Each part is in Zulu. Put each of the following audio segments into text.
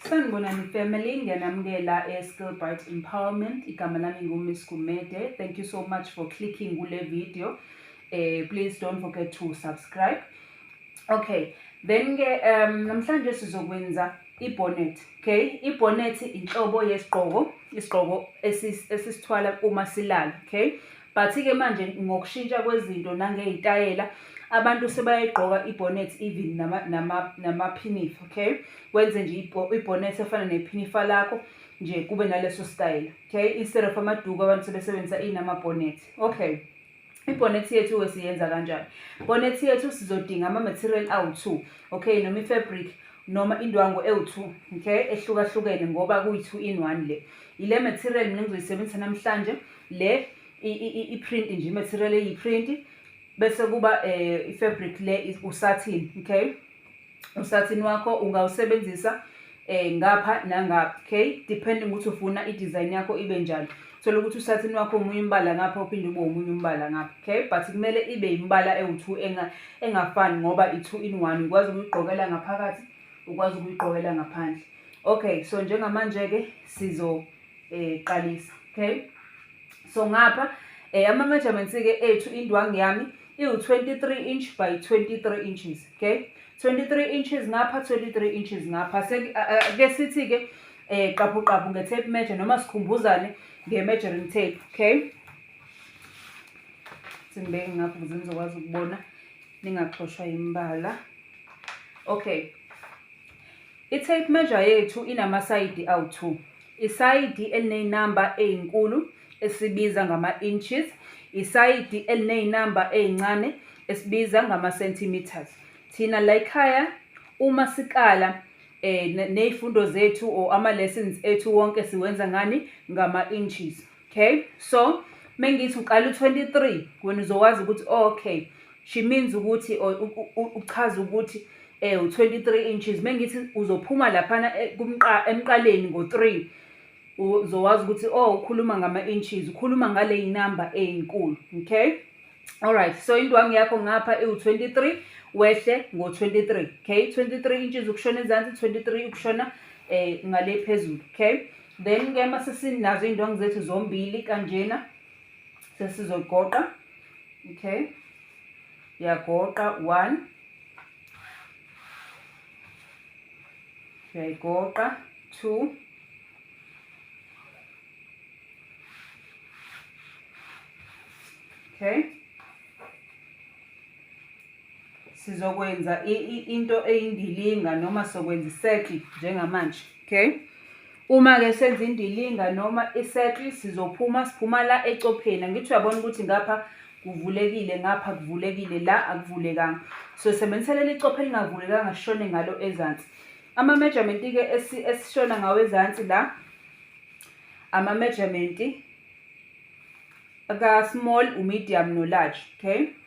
Sanibonani family, ngiyanamukela e-Skillbright Empowerment. Igama lami nguMiss Gumede. Thank you so much for clicking kule video. Eh please don't forget to subscribe. Okay, then ke um namhlanje sizokwenza ibonnet. Okay, ibonnet inhlobo yesigqoko, isigqoko esisithwala uma silala, okay? But-ke manje ngokushintsha kwezinto nangey'tayela abantu sebayayigqoka i-bonnet even nama-pinif, okay? Wenze nje i-bonnet efana nephinifa lakho nje kube naleso style, okay? Instead of amaduku abantu sebesebenzisa inama-bonnet, okay? ibhonethi yethu-ke siyenza kanjani bhonethi yethu sizodinga ama-material awu-two okay noma i-fabric noma indwangu ewu-two okay ehlukahlukene ngoba kuyi-two in one le ile material mina ngizoyisebenzisa namhlanje le i-print nje i-material eyi-print bese kuba um i-fabric le usathini okay usathini wakho ungawusebenzisa um ngapha nangapha okay depending ukuthi ufuna i-design yakho ibe njani thola ukuthi usathini wakho omunye umbala ngapha uphinde ube omunye umbala ngapha okay but kumele ibe yimbala ewu-two engafani ngoba i-two in one ukwazi ukuyigqokela ngaphakathi ukwazi ukuyigqokela ngaphandle okay so njengamanje-ke sizo eh qalisa okay so ngapha eh ama measurements ke ethu indwangu yami iwu 23 inch by 23 inches okay 23 inches ngapha 23 inches ngapha ke sithi ke eh qaphu qaphu nge tape measure noma sikhumbuzane nge measuring tape okay simbeke ngapha ukuze nizokwazi ukubona ningaxoshwa imbala okay I-tape measure yethu inamasayidi awu-2, isayidi elineyinamba eyinkulu esibiza ngama-inches, isayidi elineyinamba eyincane esibiza ngama-centimetres. Thina layikhaya uma sikala um ney'fundo zethu or ama-lessons ethu wonke siwenza ngani? Ngama-inches. okay so mengithi uqala u-23 wena uzokwazi ukuthi oh, okay she means ukuthi uchaza ukuthi eh u23 inches mengithi uzophuma laphana eh, kumqa emqaleni ngo3 uzowazi ukuthi oh ukhuluma ngama inches ukhuluma ngale inamba eyinkulu okay all right so indwangu yakho ngapha iwu23 wehle ngo23 okay 23 inches ukushona ezansi 23 ukushona eh ngale phezulu okay Then ke uma sesinazo iy'ndwangu zethu zombili kanjena sesizogoqa okay yagoqa one uyayigoqa two okay sizokwenza into eyindilinga noma sizokwenza isetli njengamanje okay uma-ke senza indilinga noma isetli sizophuma siphuma la ecopheni angithi uyabona ukuthi ngapha kuvulekile ngapha kuvulekile la akuvulekanga so sebenzisa leli copho elingavulekanga sishone ngalo ezansi ama-measurement-ke esishona ngawo ezansi la ama-measurement ka-small u-medium no-large okay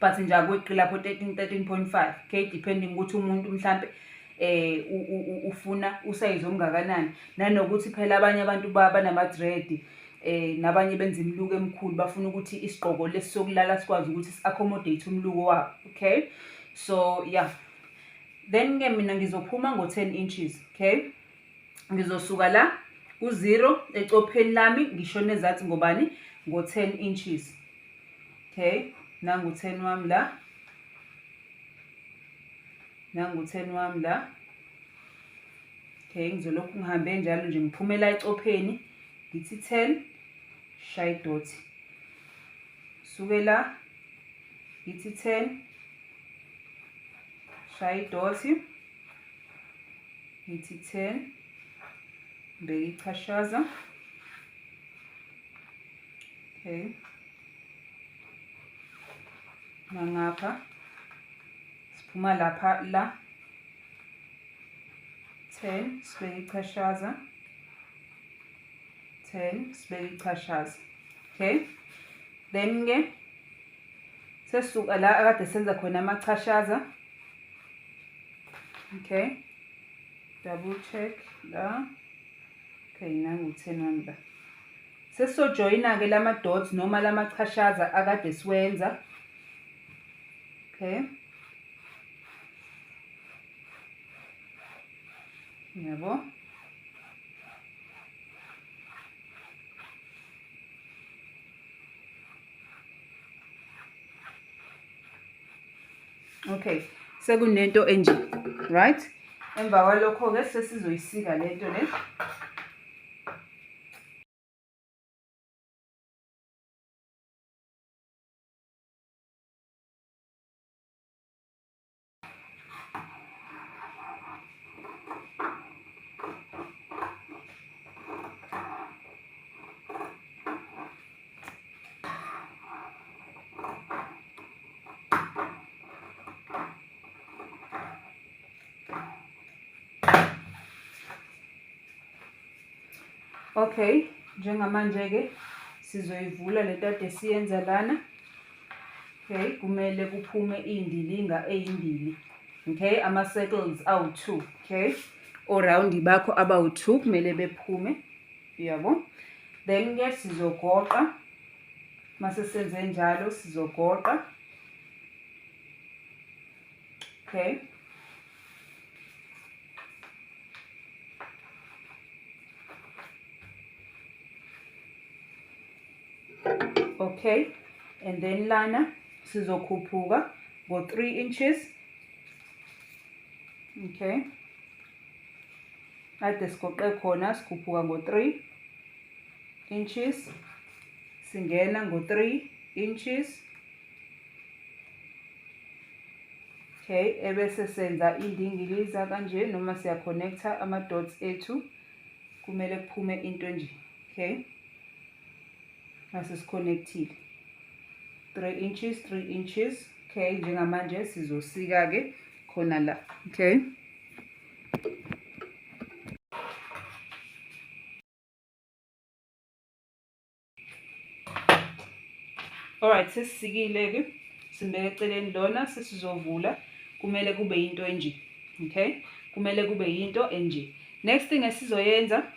but nje akweqi lapho 13 13.5 k depending ukuthi umuntu mhlampe eh ufuna usayizi omngakanani nanokuthi phela abanye abantu banama-dread eh nabanye benza imiluko emikhulu bafuna ukuthi isigqoko lesi sokulala sikwazi ukuthi si-accommodate umluko wabo okay so yeah then-ke mina ngizophuma ngo-ten inches okay ngizosuka la ku-zero ecopheni lami ngisho nezathi ngobani ngo-ten inches okay nangu-ten wami la nangu-ten wami la okay ngizolokhu ngihambe njalo nje ngiphumela ecopheni ngithi ten shaye idoti suke la ngithi ten shaye idoti ngithi 10 ngibeke ichashaza okay nangapha siphuma lapha la 10 sibeke ichashaza 10 sibeke ichashaza okay then ke sesuka la akade senza khona amachashaza okay double check la okay nangu 10 wami la sesizojoyina-ke lama dots noma lama chashaza akade siwenza okay yabo okay sekunento enje right emva kwalokho-ke sesizoyisika le nto le Okay, njengamanje-ke sizoyivula le tade siyenza lana. Okay, kumele kuphume iy'ndilinga ey'mbili. Okay, ama-circles awu-two. Okay, o-round bakho abawu-two kumele bephume. uyabo then ke sizogoqa mase senze njalo sizogoqa okay okay and then lana sizokhuphuka ngo 3 inches okay kade sigoqe khona sikhuphuka ngo-3 inches singena ngo-3 inches okay ebese senza indingiliza kanje noma siya-connecta ama-dots ethu kumele kuphume into nje okay mase sikhonekthile 3 inches 3 inches okay njengamanje sizosika ke khona la okay alright sesisikile ke simbeke eceleni lona sesizovula kumele kube into enje okay kumele kube into enje next thing esizoyenza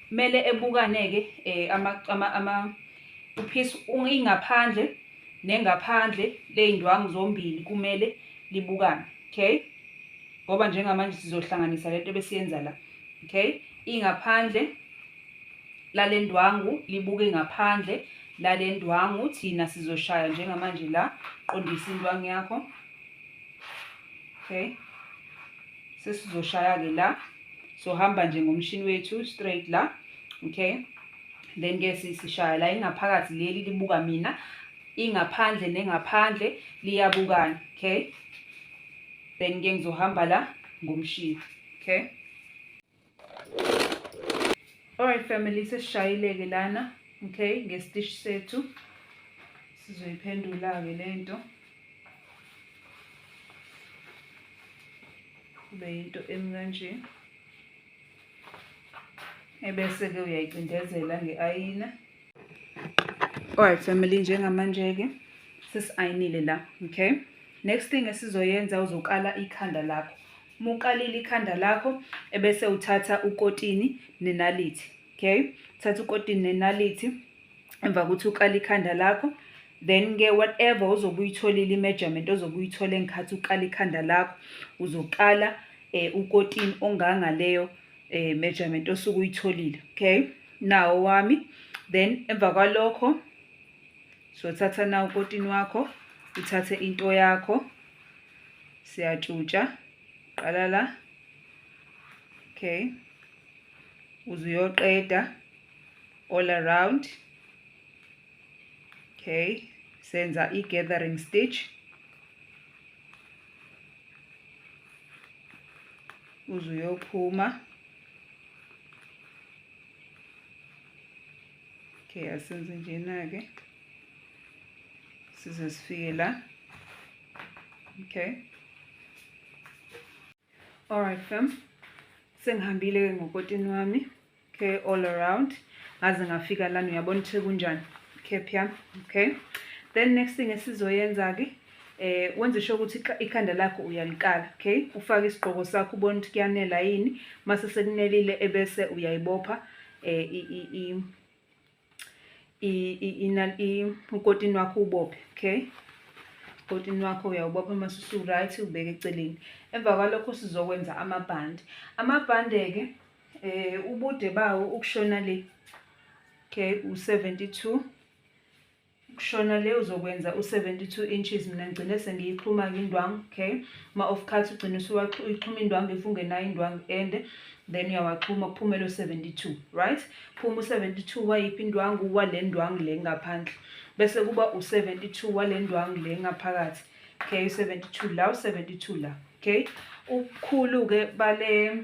Kumele ebukane-ke eh, ama, ama, ama uphisa ingaphandle nengaphandle ley'ndwangu zombili kumele libukane, okay? Ngoba njengamanje sizohlanganisa le nto besiyenza la, okay? Ingaphandle lale ndwangu libuke ngaphandle lale ndwangu thina sizoshaya njengamanje la qondisa indwangu yakho okay sesizoshaya-ke la sohamba nje ngomshini wethu straight la okay then ke sishaya la ingaphakathi leli libuka mina ingaphandle nengaphandle liyabukana okay then ke ngizohamba la ngomshini okay Alright family sesishayileke lana okay ngestish sethu sizoyiphendula ke lento kube into emi kanje ebese ke uyayicindezela ngeayina Alright family njengamanje-ke sesi-ayinile la okay next thing esizoyenza uzokala ikhanda lakho uma ukalile ikhanda lakho ebese uthatha ukotini nenalithi okay uthatha ukotini nenalithi emva kokuthi ukala ikhanda lakho then-ke whatever ozobe uyitholile i-measurement ozobe uyithole ngikhathi ukala ikhanda lakho uzokala um eh, ukotini ongangaleyo um eh, measurement osuke uyitholile okay nawo wami then emva kwalokho sothatha na ukotini wakho uthathe into yakho siyatshutsha qala la okay uze uyoqeda all around okay senza i-gathering stitch uze uyophuma okay asenze njena-ke size sifike la okay alright fam sengihambile-ke ngokotini wami okay all around ngaze ngafika lana uyabona ukuthi kunjani cap yami okay then next thing esizoyenza-ke eh wenze sho ukuthi ikhanda lakho uyalikala okay ufake isigqoko sakho ubona ukuthi kuyanela yini mase sekunelile ebese uyayibopha eh ukotini wakho ubophe okay ukotini wakho uyawubopha uma susu-right ubeke eceleni emva kwalokho sizokwenza amabhande amabhande-ke eh ubude bawo ukushona le okay u-72 kushona le uzokwenza u-72 inches mina ngigcine sengiyixhuma-ke indwangu okay ma-off cut ugcine usuyixhuma indwangu if ungenayo indwangu ende then uyawaxhuma kuphumele u-72 right phuma u-72 wayiphi indwangu wale ndwangu le ngaphandle bese kuba u-72 wale ndwangu le ngaphakathi okay u-72 la u-72 la okay ubukhulu-ke bale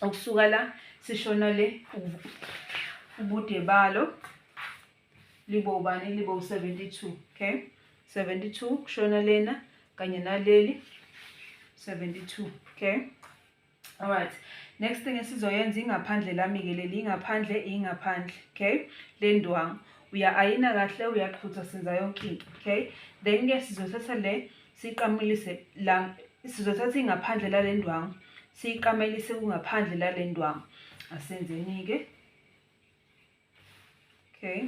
okusuka la sishona le ubude balo libo ubani libo u-72 okay 72 kushona lena kanye naleli 72 okay alright next thing esizoyenza ingaphandle lami-ke leli ingaphandle ingaphandle okay le ndwangu uya-ayina kahle uyaqhutha senza yonke into okay then-ke sizothatha le siqamelise la sizothatha ingaphandle lale ndwangu siyiqamelise kungaphandle lale ndwangu asenzeni-ke okay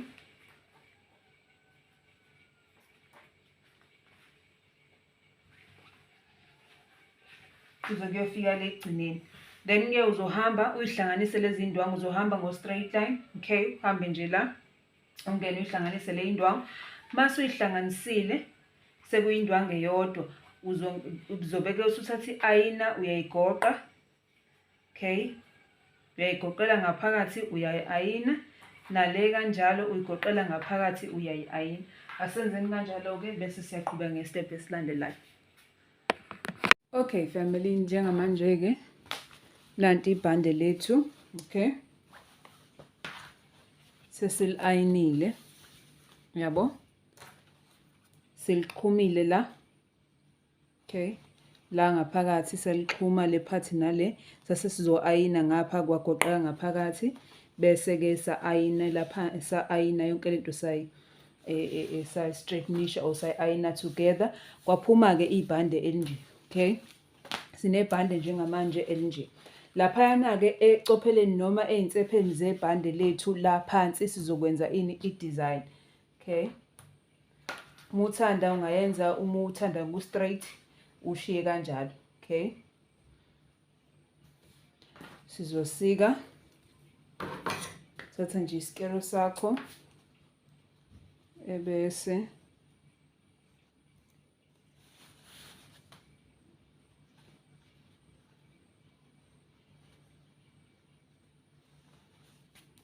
size kuyofika le ekugcineni then-ke uzohamba uyihlanganise lezi ndwangu uzohamba ngo-straight line okay uhambe nje la ungene uyihlanganise le indwangu mase uyihlanganisile sekuyindwangu eyodwa uzobeke usuthatha i-ayina uyayigoqa okay uyayigoqela ngaphakathi uyayi-ayina nale kanjalo uyigoqela ngaphakathi uyayi-ayina asenzeni kanjalo-ke bese siyaqhubeka ngesitebhu esilandelayo Okay family, njengamanje ke nanti ibhande lethu, okay? Sesilayinile. Yabo? Seliqhumile la. Okay. La ngaphakathi selixhuma le part nale, sase sizoayina ngapha kwagoqeka ngaphakathi bese ke saayina lapha saayina yonke lento sayi esayi-straightnisha e, e, or sayi-ayina together kwaphuma-ke ibhande elinje okay sinebhande njengamanje elinje laphayana-ke ecopheleni noma ey'nsepheni zebhande lethu la phansi sizokwenza ini i-design okay uma uthanda ungayenza uma uthanda ku-straight ushiye kanjalo okay sizosika thatha nje isikero sakho ebese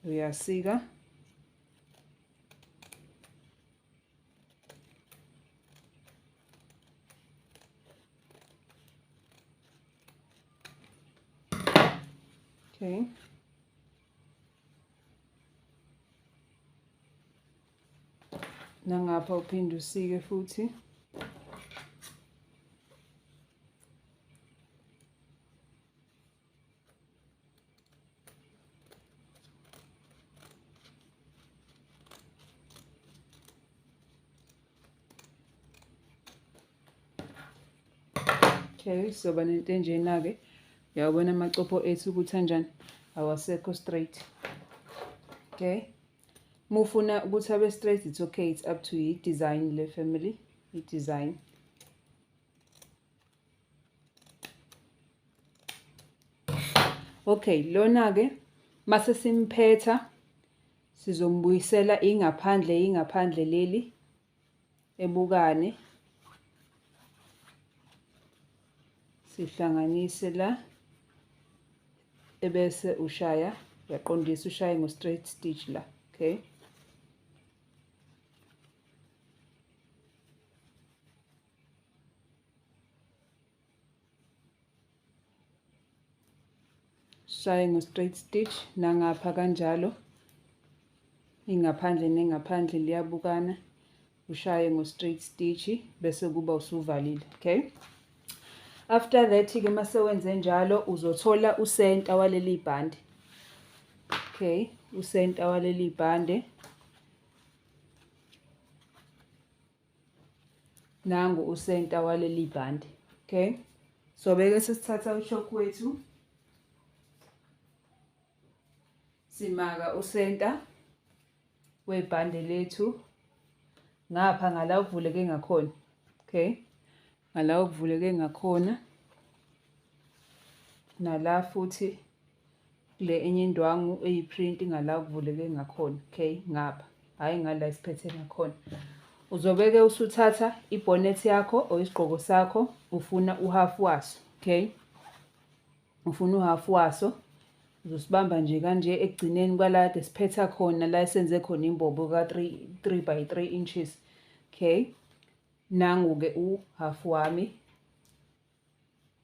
uyasika Okay. Nangapha uphinde usike futhi. okay soba nento enjena-ke uyawabona amacopho ethu ukuthi anjani awasekho straight okay mufuna ukuthi abe straight it's okay it's up to you design le family i-design Okay, lona-ke mase simphetha sizombuyisela ingaphandle ingaphandle leli ebukane sihlanganise la ebese ushaya uyaqondisa ushaye ngo straight stitch la okay shaye ngo straight stitch nangapha kanjalo ingaphandle nengaphandle liyabukana ushaye ngo straight stitch bese kuba usuvalile okay after that ke mase wenze njalo uzothola usenta waleli bhande okay usenta waleli bhande nangu usenta waleli bhande okay so beke sesithatha ushok wethu simaka usenta webhande lethu ngapha ngala kuvuleke ngakhona okay ngala kuvuleke ngakhona nala futhi kule enye indwangu eyiprint ngala kuvuleke ngakhona okay ngapha hhayi ngala isiphethe ngakhona uzobeke usuthatha ibhonethi yakho or isigqoko sakho ufuna uhafu waso okay ufuna uhafu waso uzosibamba nje kanje ekugcineni kwala kade siphetha khona la esenze khona imbobo ka-3 by 3 inches okay nangu-ke uhafu wami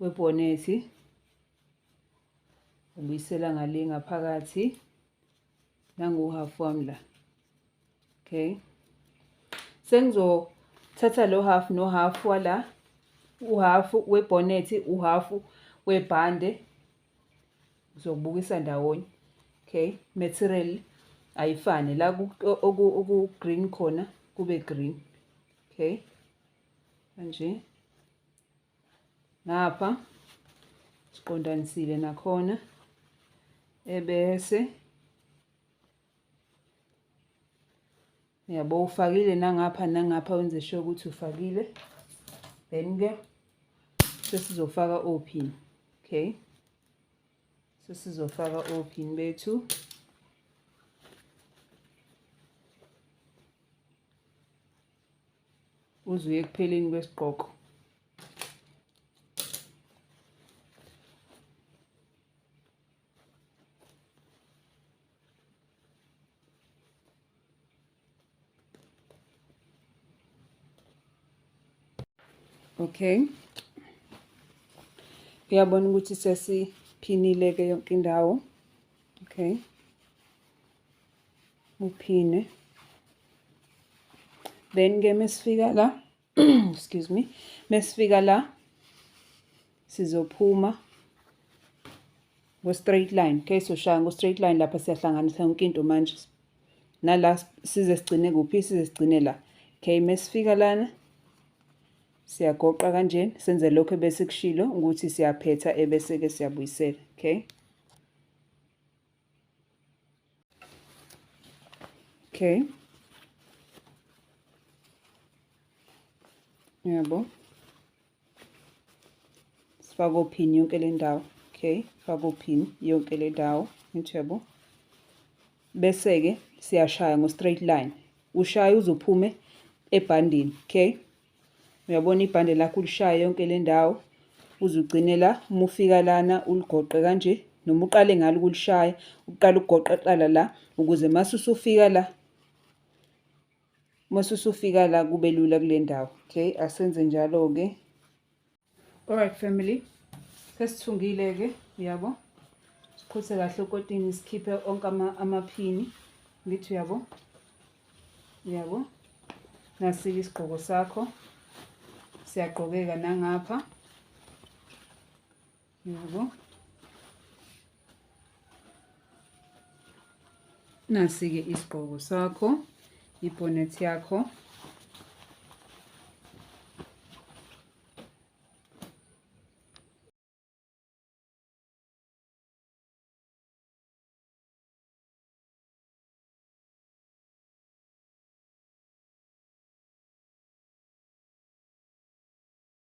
webhonethi ubuyisela ngale ngaphakathi nangu-half wami la okay sengizothatha lo half no half wala uhalf webhonethi uhalf webhande ngizokubukisa ndawonye okay material ayifane la oku-green khona kube green okay kanje lapha siqondanisile nakhona ebese yabo ufakile nangapha nangapha wenze sure ukuthi ufakile then ke sesizofaka opin okay sesizofaka opin bethu uze uye ekupheleni kwesigqoko okay uyabona ukuthi sesiphinile ke yonke indawo okay uphine then ke mesifika la excuse me mesifika la sizophuma ngo straight line okay so shaya ngo straight line lapha siyahlanganisa yonke into manje nala size sigcine kuphi size sigcine la okay mesifika lana siyagoqa kanjena senze lokho ebese kushilo ukuthi siyaphetha ebese ke siyabuyisela okay Okay. Yabo. Sifaka ophini yonke le ndawo. Okay, faka ophini yonke le ndawo. Nithebo. Bese-ke siyashaya ngo-straight line. Ushaya uzophume ebhandini. Okay. uyabona ibhande lakho ulishaye yonke le ndawo uze ugcine la uma ufika lana uligoqe kanje noma uqale ngalo ukulishaya uqale ukugoqa qala la ukuze mase usufika la mase usufika la kube lula kule ndawo okay asenze njalo-ke Alright family. Sesithungile ke, uyabo? Siqhuthe kahle ukotini sikhiphe onke ama amaphini. Ngithi uyabo? Uyabo? Nasike isigqoko sakho. Siyagqokeka nangapha. yabo nasi-ke isigqoko sakho ibhonet yakho